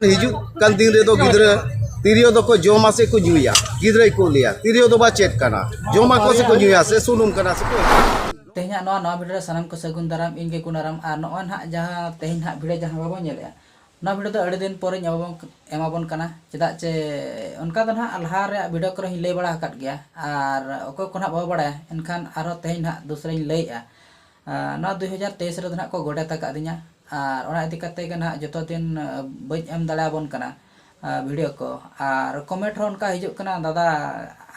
ᱦᱤᱡᱩᱜ ᱠᱟᱱ ᱫᱤᱱ ᱨᱮᱫᱚ ᱜᱤᱫᱽᱨᱟᱹ ᱛᱤᱨᱭᱳ ᱫᱚᱠᱚ ᱡᱚᱢᱟ ᱥᱮ ᱠᱚ ᱧᱩᱭᱟ ᱜᱤᱫᱽᱨᱟᱹᱭ ᱠᱚ ᱞᱟᱹᱭᱟ ᱛᱤᱨᱭᱳ ᱫᱚ ᱵᱟ ᱪᱮᱫ ᱠᱟᱱᱟ ᱡᱚᱢᱟᱠᱚ ᱥᱮ ᱠᱚ ᱧᱩᱭᱟ ᱥᱮ ᱥᱩᱱᱩᱢ ᱠᱟᱱᱟ ᱥᱮ ᱠᱚ ᱛᱮᱦᱮᱧᱟᱜ ᱱᱚᱣᱟ ᱱᱚᱣᱟ ᱵᱷᱤᱰᱤᱭᱳ ᱨᱮ ᱥᱟᱱᱟᱢ ᱠᱚ ᱥᱟᱹᱜᱩᱱ ᱫᱟᱨᱟᱢ ᱤᱧ ᱜᱮ ᱠᱩᱱᱟᱨᱟᱢ ᱟᱨ ᱱᱚᱜᱼᱚᱭ ᱱᱟᱦᱟᱜ ᱡᱟᱦᱟᱸ ᱛᱮᱦᱮᱧ ᱱᱟᱦᱟᱜ ᱵᱷᱤᱰᱤᱭᱳ ᱡᱟᱦᱟᱸ ᱵᱟᱵᱚᱱ ᱧᱮᱞᱮᱜᱼᱟ ᱱᱚᱣᱟ ᱵᱷᱤᱰᱤᱭᱳ ᱫᱚ ᱟᱹᱰᱤ ᱫᱤᱱ ᱯᱚᱨᱮᱧ ᱮᱢᱟᱵᱚᱱ ᱮᱢᱟᱵᱚᱱ ᱠᱟᱱᱟ ᱪᱮᱫᱟᱜ ᱪᱮ ᱚᱱᱠᱟ ᱫᱚ ᱱᱟᱦᱟᱜ ᱞᱟᱦᱟ ᱨᱮᱭᱟᱜ ᱵᱷᱤᱰᱤᱭᱳ ᱠᱚᱨᱮ ᱦᱚᱧ ᱞᱟᱹᱭ ᱵᱟᱲᱟ ᱟᱠᱟᱫ ᱜᱮᱭᱟ ᱟᱨ ᱚᱠᱚᱭ ᱠᱚ ᱱᱟᱦᱟᱜ ᱵᱟᱵᱚ ᱵᱟᱲᱟᱭᱟ ᱮᱱᱠᱷᱟᱱ ᱟᱨᱦᱚᱸ ᱛᱮᱦᱮᱧ ᱱᱟᱦᱟᱜ ᱫᱚᱥᱨᱟᱧ ᱞᱟᱹᱭᱮᱜᱼᱟ ᱱᱚᱣᱟ ᱫᱩᱭ ᱦᱟᱡᱟᱨ ᱛᱮᱭᱤᱥ ᱨᱮᱫᱚ ᱱᱟᱦᱟᱜ ᱠᱚ ᱜᱚᱰᱮᱛ ᱟᱠᱟᱫᱤᱧᱟ ᱟᱨ ᱚᱱᱟ ᱤᱫᱤ ᱠᱟᱛᱮ ᱜᱮ ᱱᱟᱦᱟᱜ ᱡᱚᱛᱚ ᱫᱤᱱ ᱵᱟᱹᱧ ᱮᱢ ᱫᱟᱲᱮ ᱟᱵᱚᱱ ᱠᱟᱱᱟ ᱵᱷᱤᱰᱤᱭᱳ ᱠᱚ ᱟᱨ ᱠᱚᱢᱮᱱᱴ ᱦᱚᱸ ᱚᱱᱠᱟ ᱦᱤᱡᱩᱜ ᱠᱟᱱᱟ ᱫᱟᱫᱟ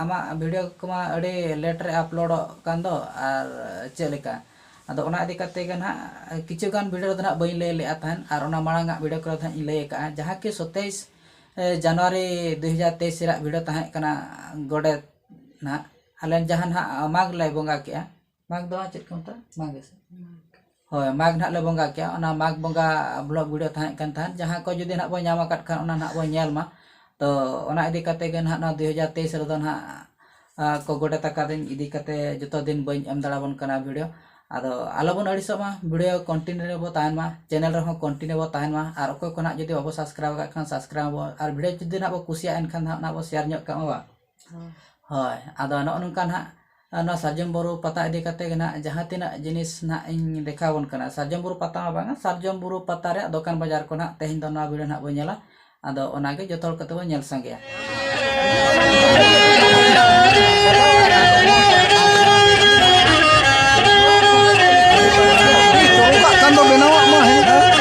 ᱟᱢᱟᱜ ᱵᱷᱤᱰᱤᱭᱳ ᱠᱚᱢᱟ ᱟᱹᱰᱤ ᱞᱮᱴ ᱨᱮ ᱟᱯᱞᱳᱰᱚᱜ ᱠᱟᱱ ᱫᱚ ᱟᱨ ᱪᱮᱫ ᱞᱮᱠᱟ ᱟᱫᱚ ᱚᱱᱟ ᱤᱫᱤ ᱠᱟᱛᱮ ᱜᱮ ᱱᱟᱦᱟᱜ ᱠᱤᱪᱷᱩ ᱜᱟᱱ ᱵᱷᱤᱰᱤᱭᱳ ᱨᱮᱫᱚ ᱱᱟᱦᱟᱜ ᱵᱟᱹᱧ ᱞᱟᱹᱭ ᱞᱮᱫᱼᱟ ᱛᱟᱦᱮᱱ ᱟᱨ ᱚᱱᱟ ᱢᱟᱲᱟᱝ ᱟᱜ ᱵᱷᱤᱰᱤᱭᱳ ᱠᱚᱨᱮ ᱫᱚ ᱱᱟᱦᱟᱜ ᱤᱧ ᱞᱟᱹᱭ ᱟᱠᱟᱫᱼᱟ ᱡᱟᱦᱟᱸ ᱠᱤ ᱥᱚᱛᱮᱭᱤᱥ ᱡᱟᱱᱩᱣᱟᱨᱤ ᱫᱩᱭ ᱦᱟᱡᱟᱨ ᱛᱮᱭᱤᱥ ᱨᱮᱭᱟᱜ ᱵᱷᱤᱰᱤᱭᱳ ᱛᱟᱦᱮᱸ ᱠᱟᱱᱟ ᱜᱚᱰᱮᱛ ᱱᱟᱦᱟᱜ ᱟᱞᱮ ᱡᱟᱦᱟᱸ ᱱᱟᱦᱟᱜ ᱢᱟᱜᱽ ᱞᱮ ᱵᱚᱸᱜᱟ ᱠᱮᱜᱼᱟ ᱢᱟᱜᱽ ᱫᱚ ᱪᱮᱫ ᱠᱚ ᱢᱮᱛᱟᱜᱼᱟ ᱢᱟᱜᱽ ᱜᱮᱥᱮ ᱦᱳᱭ ᱢᱟᱜᱽ ᱱᱟᱦᱟᱜ ᱞᱮ ᱵᱚᱸᱜᱟ ᱠᱮᱭᱟ ᱚᱱᱟ ᱢᱟᱜᱽ ᱵᱚᱸᱜᱟ ᱵᱞᱚᱠ ᱵᱷᱤᱰᱤᱭᱳ ᱛᱟᱦᱮᱸ ᱠᱟᱱ ᱛᱟᱦᱮᱸᱫ ᱡᱟᱦᱟᱸ ᱠᱚ ᱡᱩᱫᱤ ᱱᱟᱦᱟᱜ ᱵᱚᱱ ᱧᱟᱢ ᱟᱠᱟᱫ ᱠᱷᱟᱱ ᱚᱱᱟ ᱱᱟᱦᱟᱜ ᱵᱚᱱ ᱧᱮᱞ ᱢᱟ ᱛᱚ ᱚᱱᱟ ᱤᱫᱤ ᱠᱟᱛᱮ ᱜᱮ ᱱᱟᱦᱟᱜ ᱱᱚᱣᱟ ᱫᱩ ᱦᱟᱡᱟᱨ ᱛᱮᱭᱤᱥ ᱨᱮᱫᱚ ᱱᱟᱦᱟᱜ ᱠᱚ ᱜᱚᱰᱮᱛ ᱟᱠᱟᱫᱤᱧ ᱤᱫᱤ ᱠᱟᱛᱮ ᱡᱚᱛᱚ ᱫᱤᱱ ᱵᱟᱹᱧ ᱮᱢ ᱫᱟᱲᱮ ᱟᱵᱚᱱ ᱠᱟᱱᱟ ᱵᱷᱤᱰᱤᱭᱳ ᱟᱫᱚ ᱟᱞᱚ ᱵᱚᱱ ᱟᱹᱲᱤᱥᱚᱜ ᱢᱟ ᱵᱷᱤᱰᱤᱭᱳ ᱠᱚᱱᱴᱤᱱᱤᱭᱩ ᱨᱮᱵᱚ ᱛᱟᱦᱮᱱ ᱢᱟ ᱪᱮᱱᱮᱞ ᱨᱮᱦᱚᱸ ᱠᱚᱱᱴᱤᱱᱤᱭᱩ ᱵᱚ ᱛᱟᱦᱮᱱ ᱢᱟ ᱟᱨ ᱚᱠᱚᱭ ᱠᱚ ᱱᱟᱦᱟᱜ ᱡᱩᱫᱤ ᱵᱟᱵᱚ ᱥᱟᱵᱥᱠᱨᱟᱭᱤᱵᱽ ᱟᱠᱟᱫ ᱠᱷᱟᱱ ᱥᱟᱵᱥᱠᱨᱟᱭᱤᱵᱽ ᱟᱵᱚ ᱟᱨ ᱵᱷᱤᱰᱤᱭᱳ ᱡᱩᱫᱤ ᱱᱟᱦᱟᱜ ᱵᱚ ᱠᱩᱥᱤᱭᱟᱜᱼᱟ ᱮᱱᱠᱷᱟᱱ ᱱᱟᱦᱟᱜ ᱚᱱᱟ ᱵᱚ ᱥᱮᱭᱟᱨ ᱧᱚᱜ ᱠᱟᱜ ᱢᱟ ᱵᱟᱝ ᱦᱳᱭ ᱟᱫᱚ ᱱᱚᱜᱼᱚ ᱱᱚᱝᱠᱟ ᱱᱟᱜ ᱱᱚᱣᱟ ᱥᱟᱨᱡᱚᱢ ᱵᱩᱨᱩ ᱯᱟᱛᱟ ᱤᱫᱤ ᱠᱟᱛᱮ ᱜᱮ ᱱᱟᱜ ᱡᱟᱦᱟᱸ ᱛᱤᱱᱟᱹᱜ ᱡᱤᱱᱤᱥ ᱱᱟᱜ ᱤᱧ ᱫᱮᱠᱷᱟᱣ ᱵᱚᱱ ᱠᱟᱱᱟ ᱥᱟᱨᱡᱚᱢ ᱵᱩᱨᱩ ᱯᱟᱛᱟ ᱦᱚᱸ ᱵᱟᱝᱟ ᱥᱟᱨᱡᱚᱢ ᱵᱩᱨᱩ ᱯᱟᱛᱟ ᱨᱮᱭᱟᱜ ᱫᱚᱠᱟᱱ ᱵᱟᱡᱟᱨ ᱠᱚ ᱱᱟᱜ ᱛᱮᱦᱮᱧ ᱫᱚ ᱱᱚᱣᱟ ᱵᱷᱤᱰᱭᱳ ᱱᱟᱜ ᱵᱚᱱ ᱧᱮᱞᱟ ᱟᱫᱚ ᱚᱱᱟᱜᱮ ᱡᱚᱛᱚ ᱦᱚᱲ ᱠᱟᱛᱮ ᱵᱚᱱ ᱧᱮᱞ ᱥᱟᱸᱜᱮᱭᱟ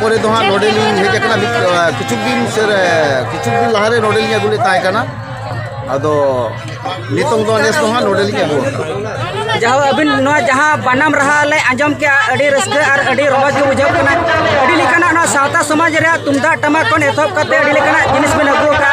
ᱯᱚᱨᱮ ᱫᱚ ᱦᱟᱸᱜ ᱱᱚᱰᱮᱞᱤᱧ ᱦᱮᱡ ᱟᱠᱟᱱᱟ ᱢᱤᱫ ᱠᱤᱪᱷᱩ ᱫᱤᱱ ᱠᱤᱪᱷᱩ ᱫᱤᱱ ᱞᱟᱦᱟᱨᱮ ᱱᱚᱰᱮᱞᱤᱧ ᱟᱹᱜᱩ ᱞᱮᱫ ᱛᱟᱦᱮᱸ ᱠᱟᱱᱟ ᱟᱫᱚ ᱱᱤᱛᱚᱝ ᱫᱚ ᱱᱮᱥ ᱫᱚ ᱦᱟᱸᱜ ᱱᱚᱰᱮᱞᱤᱧ ᱟᱹᱜᱩ ᱟᱠᱟᱱᱟ ᱡᱟᱦᱟᱸ ᱟᱹᱵᱤᱱ ᱱᱚᱣᱟ ᱡᱟᱦᱟᱸ ᱵᱟᱱᱟᱢ ᱨᱟᱦᱟ ᱞᱮ ᱟᱸᱡᱚᱢ ᱠᱮᱜᱼᱟ ᱟᱹᱰᱤ ᱨᱟᱹᱥᱠᱟᱹ ᱟᱨ ᱟᱹᱰᱤ ᱨᱚᱢᱚᱡᱽ ᱜᱮ ᱵᱩᱡᱷᱟᱹᱜ ᱠᱟᱱᱟ ᱟᱹᱰᱤ ᱞᱮᱠᱟᱱᱟᱜ ᱱᱚᱣᱟ ᱥᱟᱶᱛᱟ ᱥᱚᱢᱟᱡᱽ ᱨᱮᱭᱟᱜ ᱛᱩᱢᱫᱟᱜ ᱴᱟᱢᱟᱠ ᱠᱷᱚᱱ ᱮᱛᱚᱦᱚᱵ ᱠᱟᱛᱮ ᱟᱹᱰᱤ ᱞᱮᱠᱟᱱᱟᱜ ᱡᱤᱱᱤᱥ ᱵᱤᱱ ᱟᱹᱜᱩ ᱟᱠᱟᱫᱼᱟ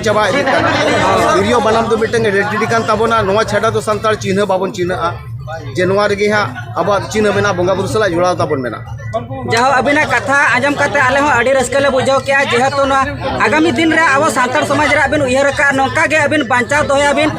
ᱪᱟᱵᱟ ᱤᱫᱤᱜ ᱠᱟᱱᱟ ᱛᱤᱨᱭᱳ ᱵᱟᱱᱟᱢ ᱫᱚ ᱢᱤᱫᱴᱟᱝ ᱟᱭᱰᱮᱱᱴᱤᱴᱤ ᱠᱟᱱ ᱛᱟᱵᱚᱱᱟ ᱱᱚᱣᱟ ᱪᱷᱟᱰᱟ ᱫᱚ ᱥᱟᱱᱛᱟᱲ ᱪᱤᱱᱦᱟᱹ ᱵᱟᱵᱚᱱ ᱪᱤᱱᱦᱟᱹᱜᱼᱟ ᱡᱮ ᱱᱚᱣᱟ ᱨᱮᱜᱮ ᱦᱟᱸᱜ ᱟᱵᱚᱣᱟᱜ ᱪᱤᱱᱦᱟᱹ ᱢᱮᱱᱟᱜᱼᱟ ᱵᱚᱸᱜᱟ ᱵᱩᱨᱩ ᱥᱟᱞᱟᱜ ᱡᱚᱲᱟᱣ ᱛᱟᱵᱚᱱ ᱢᱮᱱᱟᱜᱼᱟ ᱡᱟᱦᱟᱸ ᱟᱹᱵᱤᱱᱟᱜ ᱠᱟᱛᱷᱟ ᱟᱸᱡᱚᱢ ᱠᱟᱛᱮ ᱟᱞᱮ ᱦᱚᱸ ᱟᱹᱰᱤ ᱨᱟᱹᱥᱠᱟᱹ ᱞᱮ ᱵᱩᱡᱷᱟᱹᱣ ᱠᱮᱜᱼᱟ ᱡᱮᱦᱮᱛᱩ ᱱᱚᱣᱟ ᱟᱜᱟᱢᱤ ᱫᱤᱱ ᱨᱮ ᱟᱵᱚ ᱥᱟᱱᱛᱟᱲ ᱥᱚᱢᱟᱡᱽ ᱨᱮ ᱟᱹᱵᱤᱱ ᱩᱭᱦᱟᱹᱨ ᱟᱠᱟᱫ ᱱᱚᱝᱠᱟ ᱜᱮ ᱟᱹᱵᱤᱱ ᱵᱟᱧᱪᱟᱣ ᱫᱚᱦᱚᱭᱟᱵᱤᱱ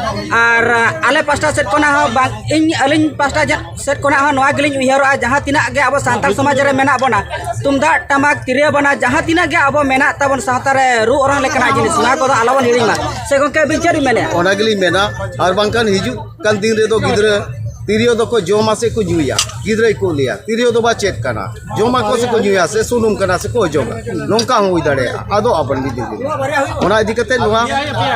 ᱟᱨ ᱟᱞᱮ ᱯᱟᱥᱴᱟ ᱥᱮᱫ ᱠᱷᱚᱱᱟᱜ ᱦᱚᱸ ᱵᱟᱝ ᱤᱧ ᱟᱹᱞᱤᱧ ᱯᱟᱥᱴᱟ ᱥᱮᱫ ᱠᱷᱚᱱᱟᱜ ᱦᱚᱸ ᱱᱚᱣᱟ ᱜᱮᱞᱤᱧ ᱩᱭᱦᱟᱹᱨᱚᱜᱼᱟ ᱡᱟᱦᱟᱸ ᱛᱤᱱᱟᱹᱜ ᱜᱮ ᱟᱵᱚ ᱥᱟᱱᱛᱟᱲ ᱥᱚᱢᱟᱡᱽ ᱨᱮ ᱢᱮᱱᱟᱜ ᱵᱚᱱᱟ ᱛᱩᱢᱫᱟᱜ ᱴᱟᱢᱟᱠ ᱛᱤᱨᱭᱳ ᱵᱟᱱᱟ ᱡᱟᱦᱟᱸ ᱛᱤᱱᱟᱹᱜ ᱜᱮ ᱟᱵᱚ ᱢᱮᱱᱟᱜ ᱛᱟᱵᱚᱱ ᱥᱟᱶᱛᱟ ᱨᱮ ᱨᱩ ᱚᱨᱚᱝ ᱞᱮᱠᱟᱱᱟᱜ ᱡᱤᱱᱤᱥ ᱱᱚᱣᱟ ᱠᱚᱫᱚ ᱟᱞᱚᱵᱚᱱ ᱦᱤᱲᱤᱧ ᱢᱟ ᱥᱮ ᱜᱚᱢᱠᱮ ᱟᱹᱵᱤᱱ ᱪᱮᱫ ᱵᱤᱱ ᱢᱮᱱᱮᱫᱼᱟ ᱚᱱᱟ ᱜᱮᱞᱤᱧ ᱢᱮᱱᱟ ᱟᱨ ᱵᱟᱝᱠᱷᱟᱱ ᱦᱤᱡᱩᱜ ᱠᱟᱱ ᱫᱤᱱ ᱨᱮᱫᱚ ᱜᱤᱫᱽᱨᱟᱹ ᱛᱤᱨᱭᱳ ᱫᱚᱠᱚ ᱡᱚᱢᱟ ᱥᱮ ᱠᱚ ᱧᱩᱭᱟ ᱜᱤᱫᱽᱨᱟᱹ ᱠᱚ ᱞᱟᱹᱭᱟ ᱛᱤᱨᱭᱳ ᱫᱚ ᱵᱟ ᱪᱮᱫ ᱠᱟᱱᱟ ᱡᱚᱢᱟ ᱠᱚ ᱥᱮ ᱠᱚ ᱧᱩᱭᱟ ᱥᱮ ᱥᱩᱱᱩᱢ ᱠᱟᱱᱟ ᱥᱮ ᱠᱚ ᱚᱡᱚᱜᱟ ᱱᱚᱝᱠᱟ ᱦᱚᱸ ᱦᱩᱭ ᱫᱟᱲᱮᱭᱟᱜᱼᱟ ᱟᱫᱚ ᱟᱵᱚᱱ ᱜᱮ ᱫᱤᱫᱤ ᱚᱱᱟ ᱤᱫᱤ ᱠᱟᱛᱮ ᱱᱚᱣᱟ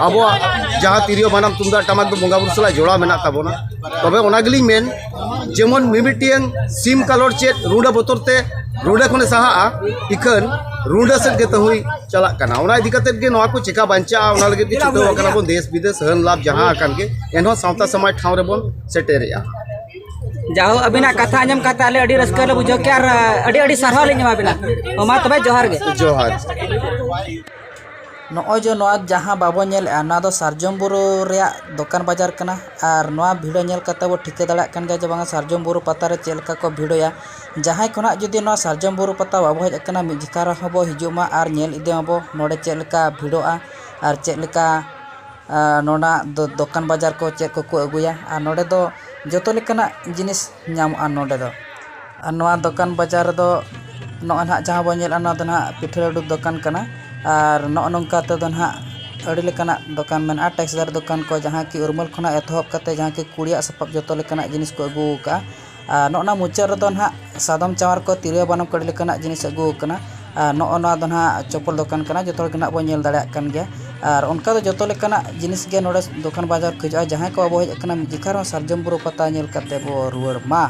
ᱟᱵᱚᱣᱟᱜ ᱡᱟᱦᱟᱸ ᱛᱤᱨᱭᱳ ᱵᱟᱱᱟᱢ ᱛᱩᱢᱫᱟᱜ ᱴᱟᱢᱟᱠ ᱫᱚ ᱵᱚᱸᱜᱟ ᱵᱩᱨᱩ ᱥᱟᱞᱟᱜ ᱡᱚᱲᱟᱣ ᱢᱮᱱᱟᱜ ᱛᱟᱵᱚᱱᱟ ᱛᱚᱵᱮ ᱚᱱᱟ ᱜᱮᱞᱤᱧ ᱢᱮᱱ ᱡᱮᱢᱚᱱ ᱢᱤᱢᱤᱫᱴᱟᱝ ᱥᱤᱢ ᱠᱟᱞᱚᱴ ᱪᱮᱫ ᱨᱩᱰᱟᱹ ᱵᱚᱛᱚᱨ ᱛᱮ ᱨᱩᱰᱟᱹ ᱠᱷᱚᱱᱮ ᱥᱟᱦᱟᱜᱼᱟ ᱤᱠᱷᱟᱹᱱ ᱨᱩᱰᱟᱹ ᱥᱮᱫ ᱜᱮ ᱛᱟᱹᱦᱩᱭ ᱪᱟᱞᱟᱜ ᱠᱟᱱᱟ ᱚᱱᱟ ᱤᱫᱤ ᱠᱟᱛᱮ ᱜᱮ ᱱᱚᱣᱟ ᱠᱚ ᱪᱮᱠᱟ ᱵᱟᱧᱪᱟᱜᱼᱟ ᱚᱱᱟ ᱞᱟᱹᱜᱤᱫ ᱜᱮ ᱪᱷᱩᱴᱟᱹᱣ ᱟᱠᱟᱱᱟ ᱵᱚᱱ ᱫᱮᱥ ᱵᱤᱫᱮᱥ ᱦᱟᱹᱱ ᱞᱟᱵᱷ ᱡᱟᱦᱟᱸ ᱟᱠᱟᱱ ᱜᱮ ᱮᱱᱦᱚᱸ ᱥᱟᱶᱛᱟ ᱥᱚᱢᱟᱡᱽ ᱴᱷᱟᱶ ᱨᱮᱵᱚᱱ ᱥᱮᱴᱮᱨᱮᱜᱼᱟ ᱡᱟᱦᱳ ᱟᱹᱵᱤᱱᱟᱜ ᱠᱟᱛᱷᱟ ᱟᱸᱡᱚᱢ ᱠᱟᱛᱮ ᱟᱞᱮ ᱟᱹᱰᱤ ᱨᱟᱹᱥᱠᱟᱹ ᱞᱮ ᱵᱩᱡᱷᱟᱹᱣ ᱠᱮᱜᱼᱟ ᱟᱨ ᱟᱹᱰᱤ ᱟᱹᱰᱤ ᱥᱟᱨᱦᱟᱣ ᱞᱤᱧ ᱮᱢᱟ ᱵᱤᱱᱟ ᱢᱟ ᱛᱚᱵᱮ ᱡᱚᱦᱟᱨ ᱜᱮ ᱡᱚᱦᱟᱨ ᱱᱚᱜᱼᱚᱭ ᱡᱮ ᱱᱚᱣᱟ ᱡᱟᱦᱟᱸ ᱵᱟᱵᱚ ᱧᱮᱞᱮᱜᱼᱟ ᱱᱚᱣᱟ ᱫᱚ ᱥᱟᱨᱡᱚᱢ ᱵᱩᱨᱩ ᱨᱮᱭᱟᱜ ᱫᱚᱠᱟᱱ ᱵᱟᱡᱟᱨ ᱠᱟᱱᱟ ᱟᱨ ᱱᱚᱣᱟ ᱵᱷᱤᱲ ᱧᱮᱞ ᱠᱟᱛᱮᱫ ᱵᱚ ᱴᱷᱤᱠᱟᱹ ᱫᱟᱲᱮᱭᱟᱜ ᱠᱟᱱ ᱜᱮᱭᱟ ᱡᱮ ᱵᱟᱝᱟ ᱥᱟᱨᱡᱚᱢ ᱵᱩᱨᱩ ᱯᱟᱛᱟ ᱨᱮ ᱪᱮᱫ ᱞᱮᱠᱟ ᱠᱚ ᱵᱷᱤᱲᱚᱜᱼᱟ ᱡᱟᱦᱟᱸᱭ ᱠᱚ ᱱᱟᱦᱟᱜ ᱡᱩᱫᱤ ᱱᱚᱣᱟ ᱥᱟᱨᱡᱚᱢ ᱵᱩᱨᱩ ᱯᱟᱛᱟ ᱵᱟᱵᱚ ᱦᱮᱡ ᱟᱠᱟᱱᱟ ᱢᱤᱫ ᱡᱚᱠᱷᱟ ᱨᱮᱦᱚᱸ ᱵᱚ ᱦᱤᱡᱩᱜ ᱢᱟ ᱟᱨ ᱧᱮᱞ ᱤᱫᱤ ᱢᱟᱵᱚ ᱱᱚᱰᱮ ᱪᱮᱫ ᱞᱮᱠᱟ ᱵᱷᱤᱲᱚᱜᱼᱟ ᱟᱨ ᱪᱮᱫ ᱞᱮᱠᱟ ᱱᱚᱰᱮᱱᱟᱜ ᱫᱚᱠᱟᱱ ᱵᱟᱡᱟᱨ ᱠᱚ ᱪᱮᱫ ᱠᱚᱠᱚ ᱟᱹᱜᱩᱭᱟ ᱟᱨ ᱱᱚᱰᱮ ᱫᱚ ᱡᱚᱛᱚ ᱞᱮᱠᱟᱱᱟᱜ ᱡᱤᱱᱤᱥ ᱧᱟᱢᱚᱜᱼᱟ ᱱᱚᱰᱮ ᱫᱚ ᱟᱨ ᱱᱚᱣᱟ ᱫᱚᱠᱟᱱ ᱵᱟᱡᱟᱨ ᱨᱮᱫᱚ ᱱᱚᱜᱼᱚᱭ ᱱᱟᱦᱟᱜ ᱡᱟᱦᱟᱸ ᱵᱚᱱ ᱧᱮᱞᱮᱫᱼᱟ ᱱᱚᱣᱟ ᱫᱚ ᱱᱟᱦᱟᱜ ᱯᱤᱴᱷᱟᱹ ᱞᱟᱹᱰᱩ ᱫᱚᱠᱟᱱ ᱠᱟᱱᱟ ᱟᱨ ᱱᱚᱜᱼᱚ ᱱᱚᱝᱠᱟ ᱛᱮᱫᱚ ᱱᱟᱦᱟᱜ ᱟᱹᱰᱤ ᱞᱮᱠᱟᱱᱟᱜ ᱫᱚᱠᱟᱱ ᱢᱮᱱᱟᱜᱼᱟ ᱴᱮᱠᱥᱴᱟᱭᱤᱞ ᱫᱚᱠᱟᱱ ᱠᱚ ᱡᱟᱦᱟᱸ ᱠᱤ ᱩᱨᱢᱟᱹᱞ ᱠᱷᱚᱱᱟᱜ ᱮᱛᱚᱦᱚᱵ ᱠᱟᱛᱮᱫ ᱡᱟᱦᱟᱸ ᱠᱤ ᱠᱩᱲᱤᱭᱟᱜ ᱥᱟᱯᱟᱯ ᱡᱚᱛᱚ ᱞᱮᱠᱟᱱᱟᱜ ᱡᱤᱱᱤᱥ ᱠᱚ ᱟᱹᱜᱩ ᱟᱠᱟᱫᱼᱟ ᱟᱨ ᱱᱚᱜᱼᱚ ᱱᱚᱣᱟ ᱢᱩᱪᱟᱹᱫ ᱨᱮᱫᱚ ᱱᱟᱦᱟᱜ ᱥᱟᱫᱚᱢ ᱪᱟᱣᱟᱨ ᱠᱚ ᱛᱤᱨᱭᱳ ᱵᱟᱱᱟᱢ ᱠᱚ ᱟᱹᱰᱤ ᱞᱮᱠᱟᱱᱟᱜ ᱡᱤᱱᱤᱥ ᱟᱹᱜᱩ ᱟᱠᱟᱱᱟ ᱟᱨ ᱱᱚᱜᱼᱚ ᱱᱚᱣᱟ ᱫᱚ ᱱᱟᱦᱟᱜ ᱪᱚᱯᱚᱞ ᱫᱚᱠᱟᱱ ᱠᱟᱱᱟ ᱡᱚᱛᱚ ᱦᱚᱲ ᱜᱮ ᱱᱟᱦᱟᱜ ᱵᱚᱱ ᱧᱮᱞ ᱫᱟᱲᱮᱭᱟᱜ ᱠᱟᱱ ᱜᱮᱭᱟ ᱟᱨ ᱚᱱᱠᱟ ᱫᱚ ᱡᱚᱛᱚ ᱞᱮᱠᱟᱱᱟᱜ ᱡᱤᱱᱤᱥ ᱜᱮ ᱱᱚᱰᱮ ᱫᱚᱠᱟᱱ ᱵᱟᱡᱟᱨ ᱠᱚ ᱦᱤᱡᱩᱜᱼᱟ ᱡᱟᱦᱟᱸᱭ ᱠᱚ ᱵᱟᱵᱚᱱ ᱦᱮᱡ ᱟᱠᱟᱱᱟ ᱢᱤᱫ ᱡᱚᱠᱷᱟ ᱨᱮᱦᱚᱸ ᱥᱟᱨᱡᱚᱢ ᱵᱩᱨᱩ ᱯᱟᱛᱟ ᱧᱮᱞ ᱠᱟᱛᱮᱫ ᱵᱚᱱ ᱨᱩᱣᱟᱹᱲ ᱢᱟ